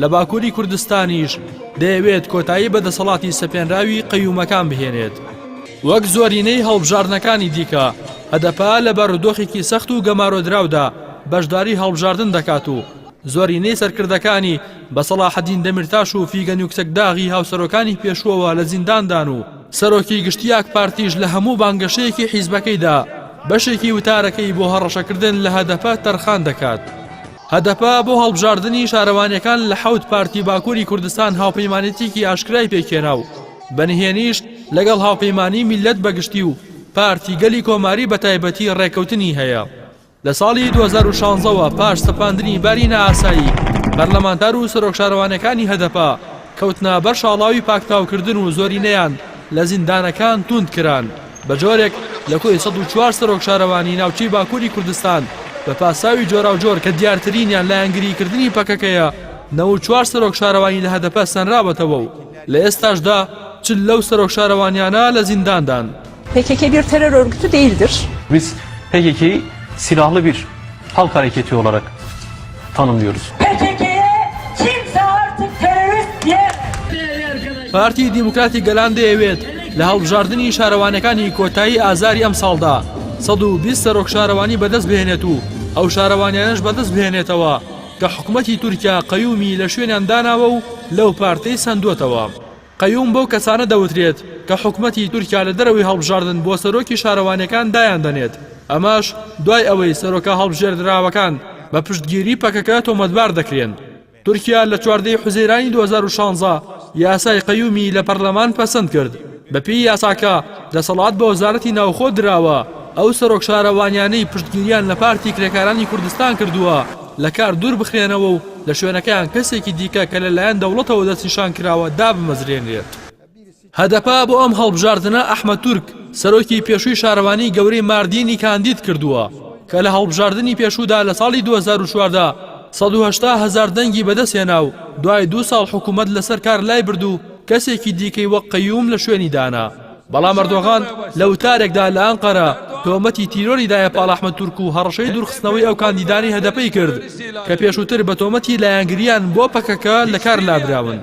لە باکووری کوردستانیش دەیەوێت کۆتایی بە دەسەڵاتی سەپێنراوی قەیومەکان بهێنێت. وەک زۆرینەی هەڵبژاردنەکانی دیکە، هەدەپە لە بارودۆخێکی سەخت و گەمارۆدراودا بەشداری هەڵبژاردن دەکات و زۆرینەی سەرکردەکانی بە سەڵاحەدین دەمیرتاش و فیگەن یوکسەکداغی هاوسەرۆکانی پێشووەوە لە زینداندان و سەرۆکی گشتی ئاکپارتیش لە هەموو بانگەشەیەکی حیزبەکەیدا بەشێکی وتارەکەی بۆ هەڕەشەکردن لە هەدەپە تەرخان دەکات. هەدەپە بۆ هەڵبژاردنی شارەوانییەکان لە حەوت پارتی باکووری کوردستان هاوپەیمانێتییەکی ئاشکرای پێکهێنا و بە نهێنیش لەگەڵ هاوپەیمانیی میللەت بەگشتی و پارتی گەلی کۆماری بەتایبەتی ڕێککەوتنی هەیە. لە ساڵی دوو هەزار و شانزە وە پاش سەپاندنی باری نائاسایی، پەرلەمانتار و سەرۆک شارەوانییەکانی هەدەپە کەوتنە بەر شاڵاوی پاکتاوکردن و زۆرینەیان لە زیندانەکان تووند کران. بە جۆرێک لە کۆی سەد و چوار سەرۆک شارەوانیی ناوچەی باکووری کوردستان بە پاساوی جۆراوجۆر کە دیارترینیان لایەنگریکردنی پەکەکەیە، نەوەد و چوار سەرۆک شارەوانی لە هەدەپە سەنراوەتەوە و لە ئێستاشدا چل لەو سەرۆک شارەوانییانە لە زینداندان. پکک بیر ترور ارگتو دیلدر. Biz PKK'yi silahlı bir هەڵ کارێکی تیۆڵەرەک تانم دیۆرز. پارتی دیموکراتی گەلان دەیەوێت لە هەڵبژاردننی شارەوانەکانی کۆتایی ئازاری ئەم ساڵدا 120 سەرۆک شارەوانی بەدەست بهێنێت و ئەو شارەوانیانش بەدەست بهێنێتەوە کە حکوومەتتی تورکیا قەیومی لە شوێنیان داناوە و لەو پارتەی سندوەتەوە. قەیوم بەو کەسانە دەوترێت کە حکومەتی تورکیا لە دەرەوەی هەڵبژاردن بۆ سەرۆکی شارەوانیەکان دایان دەنێت، ئەمەش دوای ئەوەی سەرۆکە هەڵبژێردراوەکان بە پشتگیری پەکەکە تۆمەتبار دەکرێن. تورکیا لە چواردە ی حوزەیرانی دوو هەزار و شانزە یاسای قەیومی لە پەرلەمان پەسەند کرد، بەپێی یاساکە دەسەڵات بە وەزارەتی ناوخۆ دراوە، ئەو سەرۆک شارەوانیانەی پشتگیریان لە پارتی کرێکارانی کوردستان کردووە، لە کار دوور بخرێنەوە و لە شوێنەکەیان کەسێکی دیکە کە لەلایەن دەوڵەتەوە دەستنیشان کراوە دابمەزرێنرێت. هەدەپە بۆ ئەم هەڵبژاردنە ئەحمەد تورک، سەرۆکی پێشووی شارەوانیی گەورەی ماردینی کاندید کردووە، کە لە هەڵبژاردنی پێشوودا لە ساڵی دوو هەزار و چواردە سەد و هەشتا هەزار دەنگی بەدەستهێنا و دوای دوو ساڵ حکوومەت لەسەر کار لایبرد و کەسێکی دیکەی وەک قەیووم لە شوێنی دانا. بەڵام ئەردۆغان لە وتارێکدا لە ئەنقەرە تۆمەتی تیرۆری دایە پاڵ ئەحمەد تورک و هەڕەشەی دوورخستنەوەی ئەو کاندیدانەی هەدەپەی کرد کە پێشووتر بە تۆمەتی لایەنگرییان بۆ پەکەکە لەکار لابراون.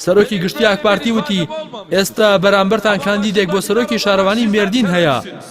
سەرۆکی گشتی ئاکپارتی وتی ئێستا بەرامبەرتان کاندیدێک بۆ سەرۆکی شارەوانی مێردین هەیە،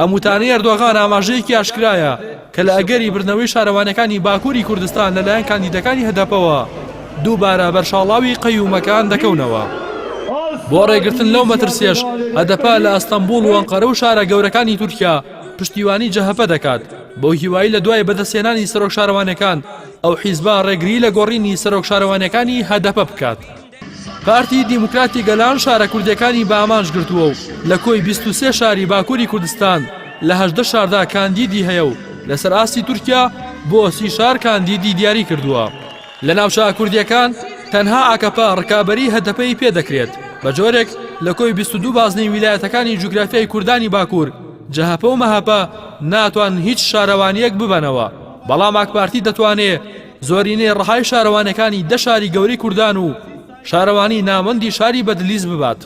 ئەم وتانەی ئەردۆغان ئاماژەیەکی ئاشکرایە کە لە ئەگەری بردنەوەی شارەوانیەکانی باکووری کوردستان لەلایەن کاندیدەکانی هەدەپەوە دووبارە بەرشاڵاوی قەیومەکان دەکەونەوە. بۆ ڕێگرتن لەو مەترسیەش هەدەپە لە ئەستەمبوڵ و ئەنقەرە و شارە گەورەکانی تورکیا پشتیوانی جەهەپە دەکات بەو هیوای لە دوای بەدەستهێنانی سەرۆک شارەوانەکان ئەو حیزبە ڕێگری لە گۆڕینی سەرۆک شارەوانەکانی هەدەپە بکات. پارتی دیموکراتی گەلان شارە کوردیەکانی بە ئامانج گرتووە و لە کۆی بیست و سێ شاری باکووری کوردستان لە هەژدە شاردا کاندیدی هەیە و لەسەر ئاستی تورکیا بۆ سی شار کاندیدی دیاری کردووە لە ناوچە کوردیەکان تەنها ئاکەپە ڕکابەری هەدەپەی پێدەکرێت بە جۆرێک لە کۆی بیست و دوو بازنەی ویلایەتەکانی جوگرافیای کوردانی باکوور جەهەپە و مەهەپە ناتوان هیچ شارەوانیەک ببەنەوە بەڵام ئاکپارتی دەتوانێ زۆرینەی ڕەهای شارەوانەکانی دە شاری گەورەی کوردان و شارەوانی ناوەندی شاری بەدلیس ببات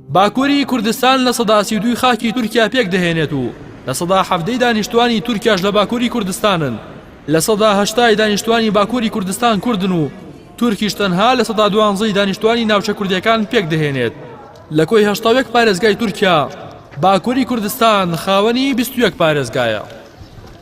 باکووری کوردستان لە سەداسی دووی خاکی تورکیا پێک دەهێنێت و لە سەدا حەفتەی دانیشتوانی تورکیاش لە باکووری کوردستانن لە سەدا هەشتای دانیشتوانی باکووری کوردستان کوردن و تورکیش تەنها لە سەدا دوانزەی دانیشتوانی ناوچە کوردەکان پێک دەهێنێت لە کۆی هەشتاوێک پارێزگای تورکیا باکووری کوردستان خاوەنی بیستویەک پارێزگایە.